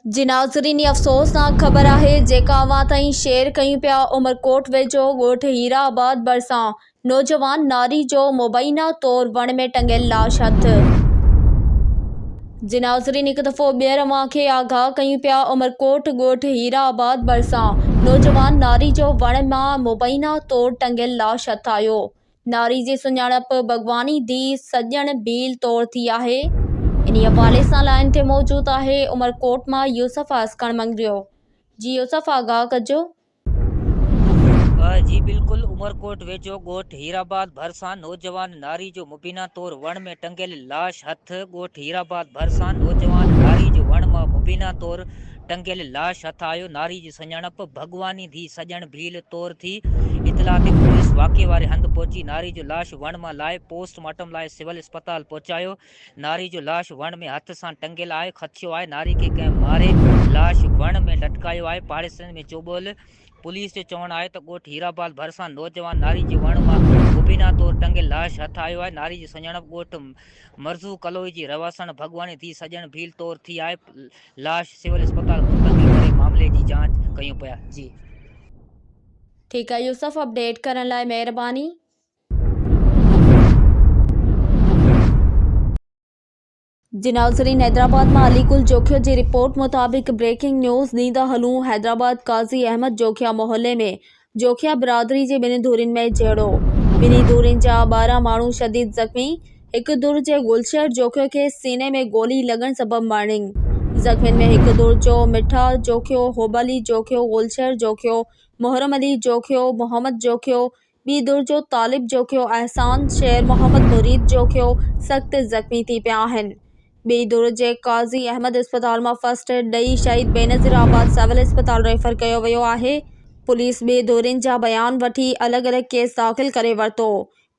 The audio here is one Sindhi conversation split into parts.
جي ناظرين هي افسوسناڪ خبر آهي جيڪا اوهان تائين شيئر ڪيون پيا عمرڪوٽ ويجهو ڳوٺ هيرا آباد ڀرسان نوجوان ناري جو مبينا طور وڻ ۾ ٽنگيل لاش هٿ جي ناظرين هڪ دفعو ٻيهر اوهان کي آگاهه ڪيون پيا عمرڪوٽ ڳوٺ هيرا آباد ڀرسان نوجوان ناري جو وڻ مان مبينا طور ٽنگيل لاش هٿايو ناري جي سڃاڻپ ڀڳواني ڌي سڄڻ ڀيل طور ٿي آهي انهي حوالي سان لائين تي موجود آهي عمرڪوٽ مان يوسف آسڪڻ مڱريو جي يوسف آگاهه ڪجو پ جي بلڪل عمرڪوٽ ويجهو ڳوٺ هيرآباد ڀرسان نوجوان ناري جو مبينا طور وڻ ۾ ٽنگيل لاش هٿ، ڳوٺ هيرآباد ڀرسان نوجوان ناري جو وڻ مان مبينا طور ٽنگيل لاش هٿ آيو، ناري جي سڃاڻپ ڀڳواني ڌي سڄڻ ڀيل طور ٿي، اطلاع تي پوليس واقعي واري هنڌ پهچي ناري جو لاش وڻ مان لاهي پوسٽ مارٽم لاء سول اسپتال پهچايو، ناري جو لاش وڻ ۾ هٿ سان ٽنگيل آهي، خدشو آهي ناري کي ڪنهن ماري، لاش وڻ ۾ لٽڪايو آهي، پاڙيسرين ۾ چوٻول. پوليس جو چوڻ آهي ته ڳوٺ هيرآباد ڀرسان نوجوان ناري جي وڻ مان مبينا طور ٽنگيل لاش هٿ آيو آهي، ناري جي سڃاڻپ ڳوٺ مرزو ڪلوئي جي رهواسڻ ڀڳواني ڌيء سڄڻ ڀيل طور ٿي آهي، لاش سول اسپتال منتقل ڪري معاملي جي جاچ ڪيون پيا. جي. ٺيڪ آهي يوسف اپڊيٽ ڪرڻ لاء مهرباني. جناح ضلعي حيدرآباد مان علي گل جوکيو جي رپورٽ مطابق بريڪنگ نيوز ڏيندا ھلون حيدرآباد قاضي احمد جوکيا محلي ۾ جوکيا برادري جي ٻنهي ڌرين ۾ جهيڙو ٻنهي ڌرين جا ٻارهن ماڻهو شديد زخمي هڪ ڌر جي گلشير جوکيو کي سيني ۾ گولي لڳڻ سبب مرڻنگ زخمين ۾ هڪ ڌر جو مٺا جوکيو حب علي جوکيو گلشير جوکيو محرم علي جوکيو محمد جوکيو ٻي ڌر جو طالب جوکيو احسان شير محمد مريد جوکيو سخت زخمي ٿي پيا آهن ٻئي ڌر جي قاضي احمد اسپتال مان فرسٽ ايڊ ڏئي شهيد بينظير آباد سول اسپتال ريفر ڪيو ويو آهي پوليس ٻئي ڌرين جا بيان وٺي الڳ الڳ ڪيس داخل ڪري ورتو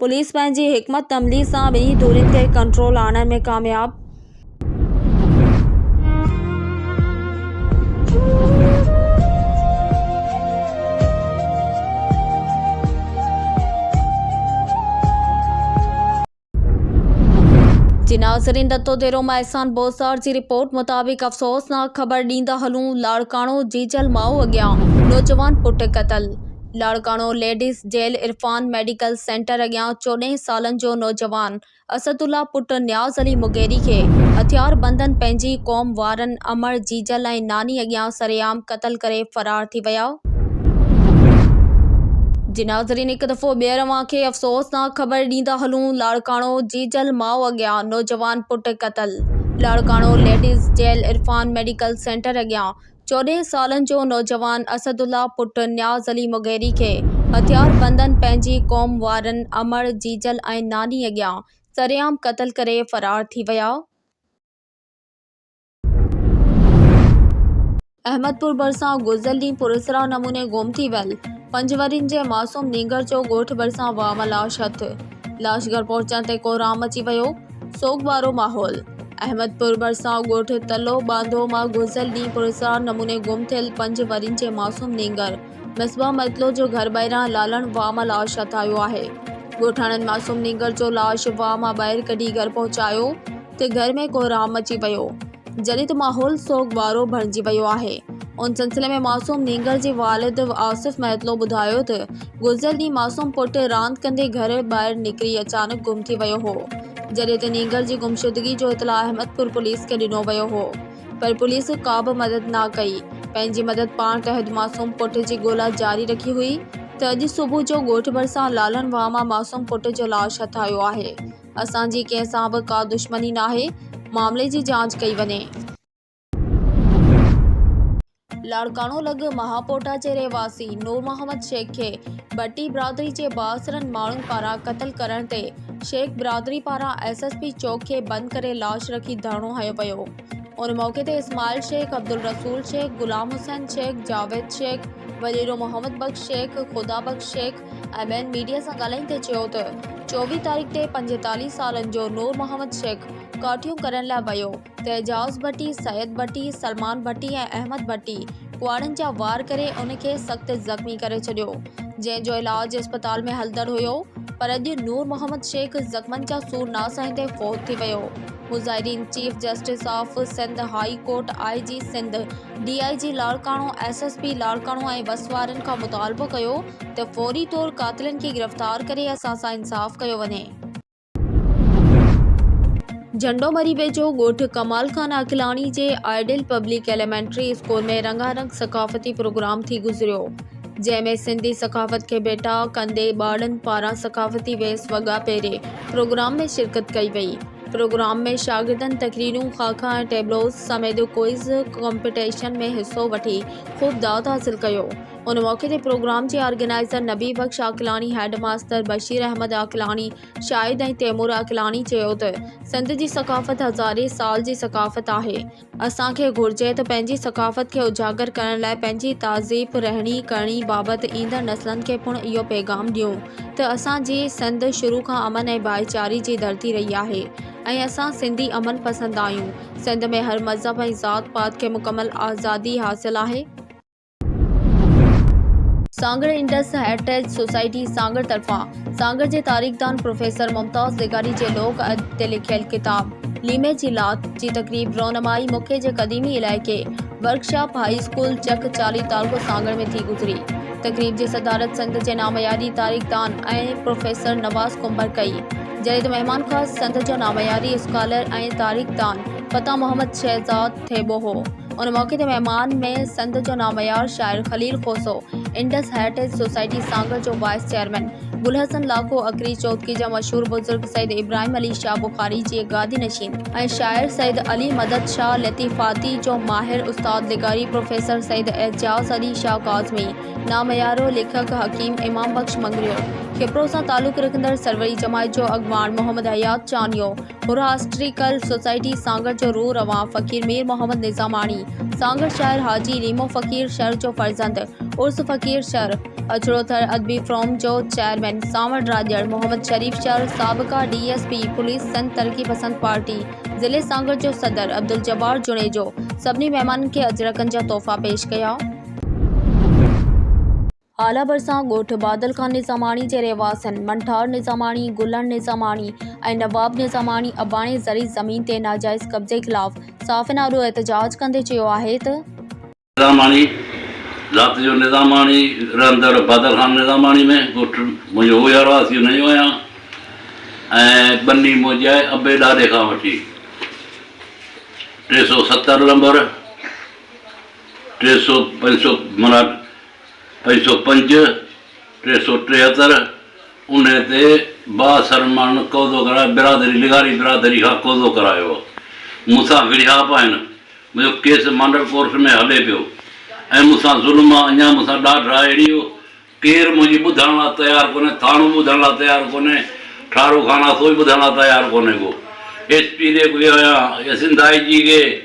پوليس پنهنجي حڪمت عملي سان ٻنهي ڌرين کي ڪنٽرول آڻڻ ۾ ڪامياب جي ناظرين دتو ديرو مان احسان بوزدار جي رپورٽ مطابق افسوسناڪ خبر ڏيندا هلون لاڙڪاڻو جيجل ماء اڳيان نوجوان پٽ قتل Larkana ladies jail Irfan medical centre اڳيان چوڏهن سالن جو نوجوان اسد الله پٽ نياز علي مغيري کي هٿياربندن پنهنجي ئي قوم وارن امڙ، جيجل ۽ ناني اڳيان سرعام قتل ڪري فرار ٿي ويا. جي ناظرين هڪ دفعو ٻيهر اوهان کي افسوسناڪ خبر ڏيندا هلون لاڙڪاڻو، جيجل ماء اڳيان نوجوان پٽ قتل، Larkana ladies jail Irfan medical centre اڳيان چوڏهن سالن جو نوجوان اسد الله پٽ نياز علي مغيري کي هٿياربندن پنهنجي قوم وارن امڙ، جيجل ۽ ناني اڳيان سرعام قتل ڪري فرار ٿي ويا. احمدپور ڀرسان گذريل ڏينهن پراسرار نموني گم ٿي ويل پنج ورهين جي معصوم نينگر جو ڳوٺ ڀرسان واهه مان لاش هٿ لاش گهر پهچڻ تي ڪوهرام مچي ويو. سوڳوارو ماحول، احمدپور ڀرسان ڳوٺ تلو ٻانڌو مان گذريل ڏينهن پراسرار نموني گم ٿيل پنج ورهين جي معصوم نينگر مصباح مطلوع جو گهر ٻاهران لالڻ واء مان لاش هٿايو آهي. ڳوٺاڻن معصوم نينگر جو لاش واء مان ٻاهر ڪڍي گهر پهچايو ته گهر ۾ ڪوهرام مچي ويو. جڏهن ته ماحول سوڳوارو بڻجي ويو آهي. ان سلسلي ۾ معصوم نينگر جي والد آصف مهتلو ٻڌايو ته گذريل ڏينهن معصوم پٽ راند ڪندي گهر ٻاهر نڪري اچانڪ گم ٿي ويو هو جڏهن ته نينگر جي گمشدگي جو اطلاع احمدپور پوليس کي ڏنو ويو هو پر پوليس ڪابه مدد نه ڪئي پنهنجي مدد پاڻ تحت معصوم پٽ جي ڳولا جاري رکي هئي ته اڄ صبح جو ڳوٺ ڀرسان لالڻ واهه مان معصوم پٽ جو لاش هٿ آيو آهي اسان جي ڪنهن سان به ڪا دشمني ناهي، معاملي جي جاچ ڪئي وڃي. لاڙڪاڻو لڳ مهاپوٽا جي رهواسي نور محمد شيخ کي ڀٽي برادري جي بااثرن ماڻهن پاران قتل ڪرڻ تي شيخ برادري پاران ايس ايس پي چوڪ کي بند ڪري لاش رکي ڌرڻو هنيو ويو ان موقعي تي اسماعيل شيخ عبدالرسول شيخ غلام حسين شيخ جاويد شيخ وڏيرو Muhammad Bakhsh Shaikh Khuda Bakhsh Sheikh M N media سان ڳالهائيندي چيو ته چوويهه تاريخ تي پنجيتاليهه سالن جو نور محمد شيخ ڪاٺيون ڪرڻ لاء ويو ته اعجاز ڀٽي، سيد ڀٽي، سلمان ڀٽي ۽ احمد ڀٽي ڪهاڙن جا وار ڪري ان کي سخت زخمي ڪري ڇڏيو جنهن جو علاج اسپتال ۾ هلندڙ هيو پر اڄ نور محمد شيخ زخمن جا سور نه سهندي فوت ٿي ويو. مظاهرين chief justice of Sindh high court I G Sindh D I G Larkana, S S P Larkana ۽ بس وارن کان مطالبو ڪيو ته فوري طور قاتلن کي گرفتار ڪري اسان سان انصاف ڪيو وڃي. جهنڊو مري ويجهو ڳوٺ ڪمال خان عاقلاڻي جي آئيڊيل پبلڪ ايليمينٽري اسڪول ۾ رنگا رنگ ثقافتي پروگرام ٿي گذريو جنهن ۾ سنڌي ثقافت کي ڀيٽا ڪندي ٻارڙن پاران ثقافتي ويس وڳا پهري پروگرام ۾ شرڪت ڪئي وئي. پروگرام ۾ شاگردن تقريرون، خاڪا ۽ ٽيبلوز سميت ڪوئز ڪمپٽيشن ۾ حصو وٺي خوب داد حاصل ڪيو. ان موقعي تي پروگرام جي organizer Nabi Bakhsh Aqlani, head master Bashir Ahmed Aqlani, Shahid ۽ Taimur Aqlani چيو ته سنڌ جي ثقافت هزارين سال جي ثقافت آهي، اسان کي گهرجي ته پنهنجي ثقافت کي اجاگر ڪرڻ لاء پنهنجي تهذيب، رهڻي ڪرڻي بابت ايندڙ نسلن کي پڻ اهو پيغام ڏيون ته اسان جي سنڌ شروع کان امن ۽ ڀائيچاري جي ڌرتي رهي آهي ۽ اسان سنڌي امن پسند آهيون. سنڌ ۾ هر مذهب ۽ ذات پات کي مڪمل آزادي حاصل آهي. Sanghar Indus heritage society Sanghar طرفان سانگهڙ جي تاريخدان پروفيسر ممتاز لغاري جي لوڪ ادب تي لکيل ڪتاب ليمي جي لاک جي تقريب رونمائي موقعي جي قديمي علائقي ورڪشاپ هائي اسڪول چڪ چالي تعلقو سانگهڙ ۾ ٿي گذري تقريب جي صدارت سنڌ جي نامياري تاريخدان ۽ پروفيسر نواز ڪنڀر ڪئي جڏهن ته مهمان خاص سنڌ جو نامياري اسڪالر ۽ تاريخدان فتح محمد شهزاد ٿيٻو هو ان موقعي تي مهمان ۾ سنڌ جو ناميار شاعر Khalil Khoso, Indus heritage society Sanghar جو وائيس چيئرمين گلحسن لاکو، اکري چوٿڪي جا مشهور بزرگ سيد ابراهيم علي شاهه بخاري جي گادي نشين ۽ شاعر سيد علي مدد شاهه لطيفاتي جو ماهر استاد لغاري پروفيسر سيد اعجاز علي شاهه ڪاظمي، ناميارو ليکڪ حڪيم امام بخش مڱريو، کپرو سان تعلق رکندڙ سروري جماعت جو اڳواڻ محمد حيات چانيو، ٿوراسٽريڪل سوسائٽي سانگهڙ جو روح روان فقير مير محمد نظاماڻي سانگهڙ شاعر حاجي ريمو فقير شر جو فرزند عرس فقير شر اجڙو ٿر ادبي فروم جو چيئرمين سانوڻ راڄڙ محمد شريف شر سابقه D S P police Sindh Taraqi Pasand party ضلعي سانگهڙ جو صدر عبدالجبار جوڻيجو سڀني مهمانن کي اجرڪن جا تحفا پيش ڪيا. هالا ڀرسان ڳوٺ بادل خان نظاماڻي جي رهواسين منٺار نظاماڻي، گلڻ نظاماڻي ۽ نواب نظاماڻي اباڻي زرعي زمين تي ناجائز قبضي خلاف صحافين آڏو احتجاج ڪندي چيو آهي ته. نظاماڻي، رات جو نظاماڻي رهندڙ بادل خان نظاماڻي ۾ ڳوٺ منهنجو اهو ئي هالا ٿيو نيو آهيان ۽ ٻني منهنجي آهي ابي ڏاڏي کان وٺي ٽي سؤ ستر لمبر ٽي سؤ پنج سؤ منا ٻه سؤ پنج، ٽي سؤ ٽيهتر، انهيء تي بااثر ماڻهن قوضو ڪرائي برادري لغاري برادري کان قوضو ڪرايو هو. مون سان وڙهياپ آهن، منهنجو ڪيس مانڊل ڪورٽ ۾ هلي پيو ۽ مون سان ظلم آ، اڃا مون سان ڏاڍ آ، اهڙي جو ڪير منهنجي ٻڌڻ لا تيار ڪونهي، ٿاڻو ٻڌڻ لا تيار ڪونهي، ٺاروخانه سوئي ٻڌڻ لا تيار ڪونهي ڪو. ايس پي ڏي به ويو آهيان، سنڌ آء جي کي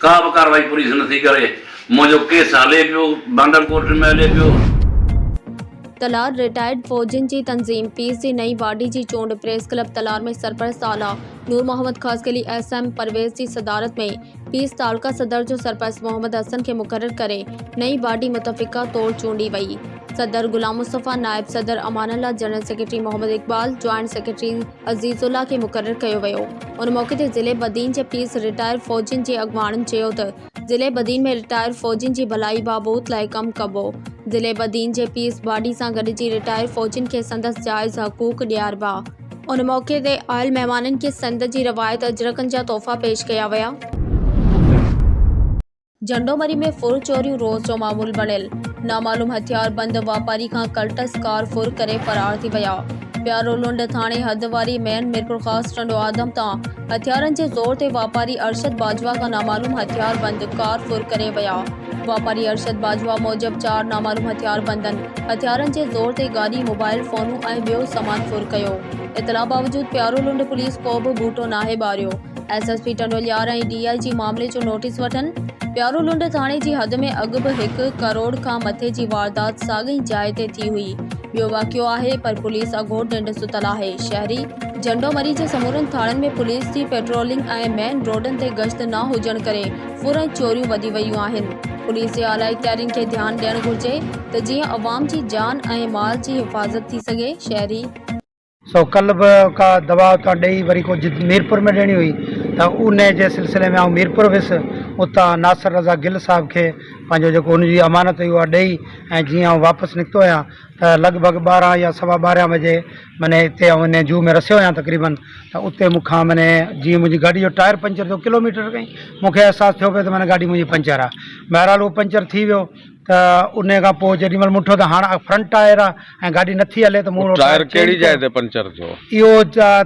ڪا به ڪارروائي پوليس نه ٿي ڪري، منهنجو ڪيس هلي پيو، بانڊل ڪورٽن ۾ هلي پيو. تلار، رٽائرڊ فوجين جي تنظيم پيس جي نئين باڊي جي چونڊ پريس ڪلب تلار ۾ سرپرست اعليٰ نور محمد خاصخيلي ايس ايم پرويز جي صدارت ۾ پيس تعلقه صدر جو سرپرست محمد حسن کي مقرر ڪري نئين باڊي متفقه طور چونڊي وئي صدر غلام مصطفيٰ نائب صدر Amanullah general secretary Muhammad Iqbal joint secretary Azizullah کي مقرر ڪيو ويو ان موقعي تي ضلعي بدين جي پيس رٽائر فوجين جي اڳواڻن چيو ته ضلعي بدين ۾ رٽائر فوجين جي ڀلائي بابوت لاء ڪم ڪبو ضلعي بدين جي پيس باڊي سان گڏجي رٽائر فوجين کي سندس جائز حقوق ڏياربا ان موقعي تي آيل مهمانن کي سنڌ جي روايت اجرڪن جا تحفا پيش ڪيا ويا. جهنڊومري ۾ ڦر چوريون روز جو معمول بڻيل، نامعلوم هٿياربند واپاري کان ڪلٽس ڪار ڦر ڪري فرار ٿي ويا، پيارولنڊ ٿاڻي حد واري مين ميرپورخاص ٽنڊو آدم تان هٿيارن جي زور تي واپاري ارشد باجوا کان نامعلوم هٿياربند ڪار ڦر ڪري ويا، واپاري ارشد باجوا موجب چار نامعلوم هٿياربندن هٿيارن جي زور تي گاڏي، موبائل فونون ۽ ٻيو سامان ڦر ڪيو، اطلاع باوجود پيارولنڊ پوليس ڪو به ٻوٽو ناهي ٻاريو. S S P Tando Allahyar ۽ D I G معاملي جو نوٽيس وٺن، پيارو لنڊ ٿاڻي جي حد ۾ اڳ به هڪ ڪروڙ کان مٿي جي واردات ساڳئي جاء تي ٿي هئي، ٻيو واقعو آهي پر پوليس اگهور ننڊ ستل آهي، شهري. جهنڊو مري جي سمورن ٿاڻن ۾ پوليس جي پيٽرولنگ ۽ مين روڊن تي گشت نه هجڻ ڪري ڦرن چوريون وڌي ويون آهن، پوليس جي اعليٰ اختيارين کي ڌيان ڏيڻ گهرجي ته جيئن عوام جي جان ۽ مال جي حفاظت ٿي سگهي، شهري. سو ڪلهه به ڪا دوا اتان ڏئي وري ڪو جد ميرپور ۾ ڏيڻي هئي ته ان جي سلسلي ۾ آئون ميرپور ويس اتان ناصر رضا گل صاحب کي پنهنجو جيڪو ان جي امانت هئي اها ڏئي ۽ جيئن آئون واپس نڪتو آهيان ته لڳ ڀڳ ٻارهن يا سوا ٻارهن بجي مني اتي آئون ان زو ۾ رسيو آهيان تقريبن ته اتي مون کان مني جيئن منهنجي گاڏي جو ٽائر پنچر ٿيو ڪلوميٽر کن ئي مون کي احساس ٿيو پئي ته مني گاڏي منهنجي پنچر آهي بهرحال اهو پنچر ٿي ويو ته ان کان پوء جيڏي مھل مون ڏٺو ته ھاڻ فرنٽ ٽائر آ ۽ گاڏي نٿي ھلي ته مون اھو ٽائر چينج ڪيو. اھو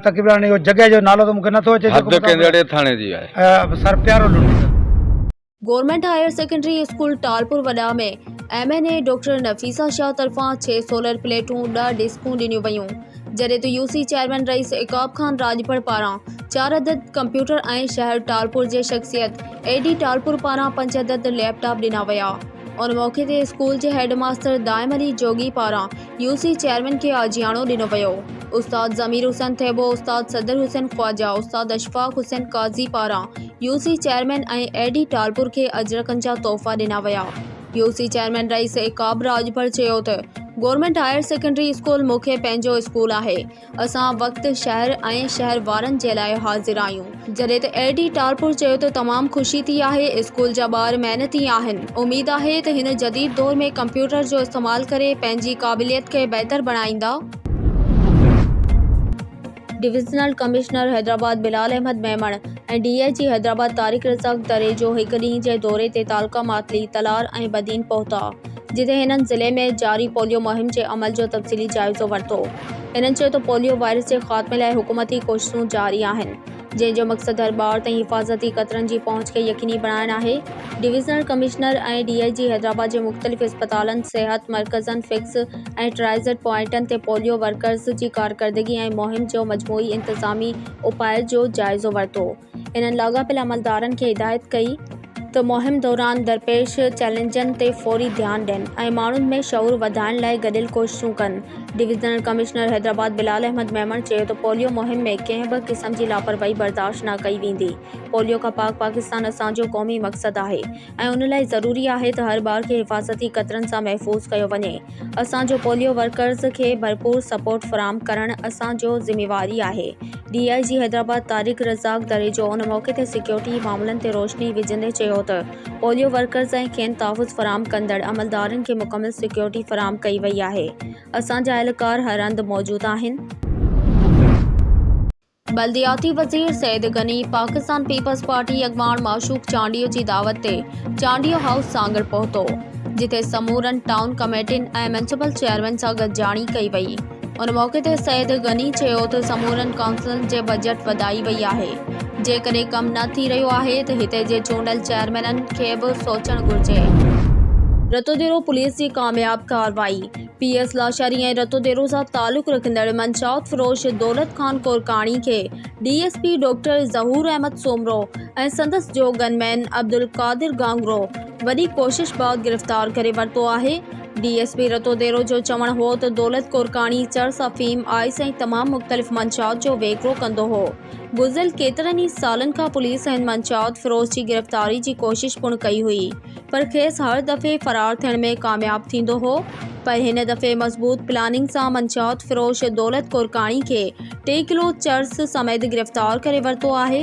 تقريبن اھو جڳھه جو نالو ته مون کي نٿو اچي جيڪو مطلب سر پيارو لنڊي. Government higher secondary school Talpur وڏا ۾ M N A doctor Nafisa Shah طرفان ڇهه سولر پليٽون ڏهه ڊسڪون ڏنيون ويون جڏهن ته U C chairman Rais Uqab Khan Rajpar پاران چار عدد ڪمپيوٽر ۽ شهر ٽالپور جي شخصيت اي ڊي ٽالپر پاران پنج عدد ليپ ٽاپ ڏنا ويا ان موقعي تي اسڪول جي هيڊ ماستر دائم علي جوڳي پاران يو سي چيئرمين کي آجياڻو ڏنو ويو استاد ضمير حسين ٿيٻو استاد صدر حسين خواجا استاد اشفاق حسين قاضي پاران U C chairman ۽ A D Talpur کي اجرڪن جا تحفا ڏنا ويا U C chairman Rais Uqab راڄڀر چيو ته گورنمينٽ هائر سيڪنڊري اسڪول مون کي پنهنجو اسڪول آهي اسان وقت، شهر ۽ شهر وارن جي لاء حاضر آهيون. جڏهن ته اي ڊي ٽالپر چيو ته تمام خوشي ٿي آهي، اسڪول جا ٻار محنتي آهن، اميد آهي ته هن جديد دور ۾ ڪمپيوٽر جو استعمال ڪري پنهنجي قابليت کي بهتر بڻائيندا. Divisional commissioner Hyderabad Bilal Ahmed Memon ۽ D I G Hyderabad Tariq Razzaq Dharejo هڪ ڏينهن جي دوري تي تعلقه ماتلي، تلار ۽ بدين پهتا. جتي هنن ضلعي ۾ جاري پوليو مهم جي عمل جو تفصيلي جائزو ورتو. هنن چيو ته پوليو وائرس جي خاتمي لاء حڪومتي ڪوششون جاري آهن، جنهن جو مقصد هر ٻار تائين حفاظتي قطرن جي پهچ کي يقيني بڻائڻ آهي. Divisional commissioner ۽ D I G Hyderabad جي مختلف اسپتالن، صحت مرڪزن، فيڪس ۽ ٽرائزٽ پوائنٽن تي پوليو ورڪرز جي ڪارڪردگي ۽ مهم جو مجموعي انتظامي اپائن جو جائزو ورتو. انهن لاڳاپيل عملدارن کي هدايت ڪئي ته مهم دوران درپيش چئلينجن تي فوري ڌيان ڏين ۽ ماڻهن ۾ شعور وڌائڻ لاء گڏيل ڪوششون ڪن ڊويزنل ڪمشنر حيدرآباد بلال احمد ميمڻ چيو ته پوليو مهم ۾ ڪنهن به قسم جي لاپرواهي برداشت نه ڪئي ويندي پوليو کان پاڪ پاڪستان اسان جو قومي مقصد آهي ۽ ان لاء ضروري آهي ته هر ٻار کي حفاظتي قطرن سان محفوظ ڪيو وڃي. اسان جو پوليو ورڪرز کي ڀرپور سپورٽ فراهم ڪرڻ اسان جو ذميواري آهي، D I G Hyderabad Tariq Razzaq دريجو ان موقعي تي سيڪيورٽي معاملن تي روشني وجهندي چيو ته پوليو ورڪرز ۽ کين تحفظ فراهم ڪندڙ عملدارن کي مڪمل سيڪيورٽي فراهم ڪئي وئي آهي، اسان جا اهلڪار هر هنڌ موجود آهن. بلدياتي وزير سيد غني پاڪستان پيپلز پارٽي اڳواڻ معشوق چانڊيو جي دعوت تي چانڊيو هائوس سانگهڙ پهتو، جتي سمورن ٽائون ڪميٽين ۽ ميونسپل چيئرمين سان گڏجاڻي ڪئي وئي. ان موقعي تي سيد غني چيو ته سمورن ڪائونسلن جي بجيٽ وڌائي وئي آهي، جيڪڏهن ڪم نه ٿي رهيو آهي ته هتي جي چونڊيل چيئرمينن کي به سوچڻ گهرجي. رتوديرو پوليس جي ڪامياب ڪارروائي. پي ايس لاشاري ۽ رتو ديرو سان تعلق رکندڙ منشيات فروش دولت خان ڪورڪاڻي کي D S P doctor Zahoor Ahmed Soomro ۽ سندس جو گن مين عبدالقادر گهانگهرو وڏي ڪوشش بعد گرفتار ڪري ورتو آهي D S P Ratodero جو چوڻ هو ته دولت ڪورڪاڻي چرس افيم آئس ۽ تمام مختلف منشيات جو ويڪرو ڪندو هو گذريل ڪيترن ئي سالن کان پوليس هن منشيات فروش جي گرفتاري جي ڪوشش پڻ ڪئي هئي پر کيس هر دفعي فرار ٿيڻ ۾ ڪامياب ٿيندو هو پر هن دفعي مضبوط پلاننگ سان منشيات فروش دولت ڪورڪاڻي کي ٽي ڪلو چرس سميت گرفتار ڪري ورتو آهي.